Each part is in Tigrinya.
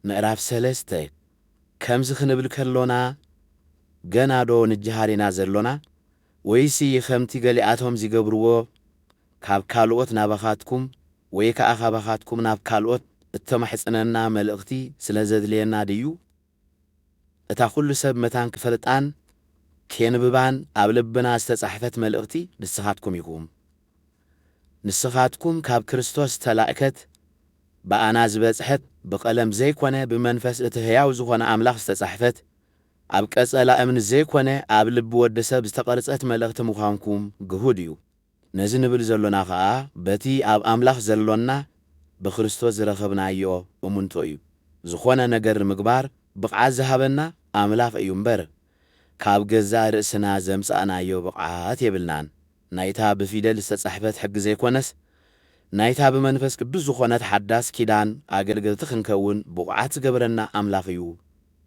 ምዕራፍ ሰለስተ፣ ከምዚ ክንብል ከሎና ገናዶ ንጀሃር ኢና ዘሎና? ወይሲ ኸምቲ ገሊኣቶም ዚገብርዎ ካብ ካልኦት ናባኻትኩም ወይ ከኣ ካባኻትኩም ናብ ካልኦት እተማሕጽነና መልእኽቲ ስለ ዘድልየና ድዩ? እታ ኩሉ ሰብ መታን ክፈልጣን ኬንብባን ኣብ ልብና ዝተጻሕፈት መልእኽቲ ንስኻትኩም ኢኹም። ንስኻትኩም ካብ ክርስቶስ ዝተላእከት ብኣና ዝበጽሐት ብቐለም ዘይኮነ ብመንፈስ እቲ ሕያው ዝኾነ ኣምላኽ ዝተጻሕፈት ኣብ ቀጸላ እምኒ ዘይኮነ ኣብ ልቢ ወዲ ሰብ ዝተቐርጸት መልእኽቲ ምዃንኩም ግሁድ እዩ። ነዚ ንብል ዘሎና ከኣ በቲ ኣብ ኣምላኽ ዘሎና ብክርስቶስ ዝረኸብናዮ እሙንቶ እዩ። ዝኾነ ነገር ንምግባር ብቕዓት ዝሃበና ኣምላኽ እዩ እምበር ካብ ገዛእ ርእስና ዘምጻእናዮ ብቕዓት የብልናን። ናይታ ብፊደል ዝተጻሕፈት ሕጊ ዘይኮነስ ናይታ ብመንፈስ ቅዱስ ዝኾነት ሓዳስ ኪዳን ኣገልገልቲ ክንከውን ብቑዓት ዝገበረና ኣምላኽ እዩ።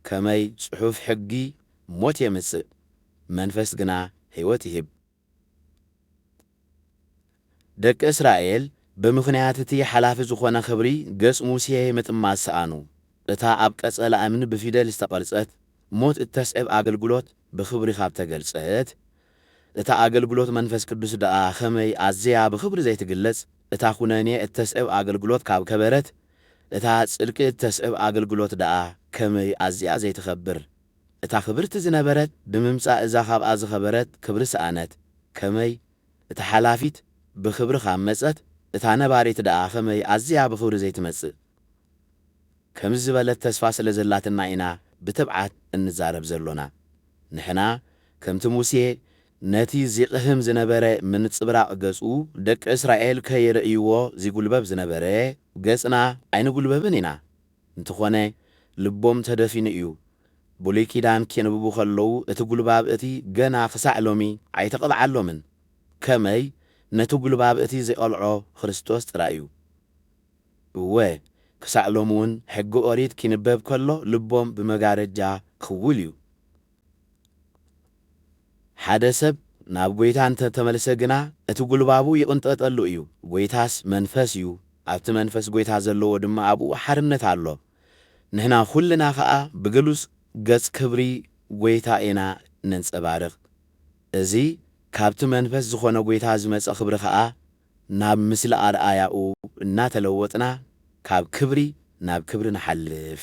ከመይ ጽሑፍ ሕጊ ሞት የምጽእ መንፈስ ግና ሕይወት ይህብ። ደቂ እስራኤል ብምኽንያት እቲ ሓላፊ ዝዀነ ኽብሪ ገጽ ሙሴ ምጥማት ሰኣኑ። እታ ኣብ ቀጸላ እምኒ ብፊደል ዝተቐርጸት ሞት እተስዕብ ኣገልግሎት ብኽብሪ ኻብ ተገልጸት፣ እታ ኣገልግሎት መንፈስ ቅዱስ ደኣ ኸመይ ኣዝያ ብኽብሪ ዘይትግለጽ! እታ ዅነኔ እተስዕብ ኣገልግሎት ካብ ከበረት፣ እታ ጽድቂ እተስዕብ ኣገልግሎት ደኣ ኸመይ ኣዝያ ዘይትኸብር! እታ ክብርቲ ዝነበረት ብምምጻእ እዛ ካብኣ ዝኸበረት ክብሪ ሰኣነት፣ ከመይ፣ እታ ሓላፊት ብኽብሪ ካብ መጸት፣ እታ ነባሪት ደኣ ከመይ ኣዝያ ብኽብሪ ዘይትመጽእ? ከምዚ ዝበለት ተስፋ ስለ ዘላትና ኢና ብትብዓት እንዛረብ ዘሎና። ንሕና ከምቲ ሙሴ ነቲ ዚቕህም ዝነበረ ምንጽብራቕ ገጹ ደቂ እስራኤል ከይርእይዎ ዚጉልበብ ዝነበረ ገጽና ኣይንጉልበብን ኢና። እንተኾነ ልቦም ተደፊኑ እዩ። ብሉይ ኪዳን ኬንብቡ ከለዉ እቲ ጉልባብ እቲ ገና ክሳዕ ሎሚ ኣይተቐልዓሎምን። ከመይ ነቲ ጉልባብ እቲ ዜቐልዖ ክርስቶስ ጥራይ እዩ። እወ ክሳዕ ሎሚ እውን ሕጊ ኦሪት ኪንበብ ከሎ ልቦም ብመጋረጃ ክውል እዩ። ሓደ ሰብ ናብ ጐይታ እንተ ተመልሰ ግና፣ እቲ ጕልባቡ ይቕንጠጠሉ እዩ። ጐይታስ መንፈስ እዩ፣ ኣብቲ መንፈስ ጐይታ ዘለዎ ድማ ኣብኡ ሓርነት ኣሎ። ንሕና ዅልና ኸኣ ብግሉጽ ገጽ ክብሪ ጐይታ ኢና ነንጸባርቕ። እዚ ካብቲ መንፈስ ዝዀነ ጐይታ ዝመጸ ኽብሪ ኸኣ፣ ናብ ምስሊ ኣርኣያኡ እናተለወጥና ካብ ክብሪ ናብ ክብሪ ንሓልፍ።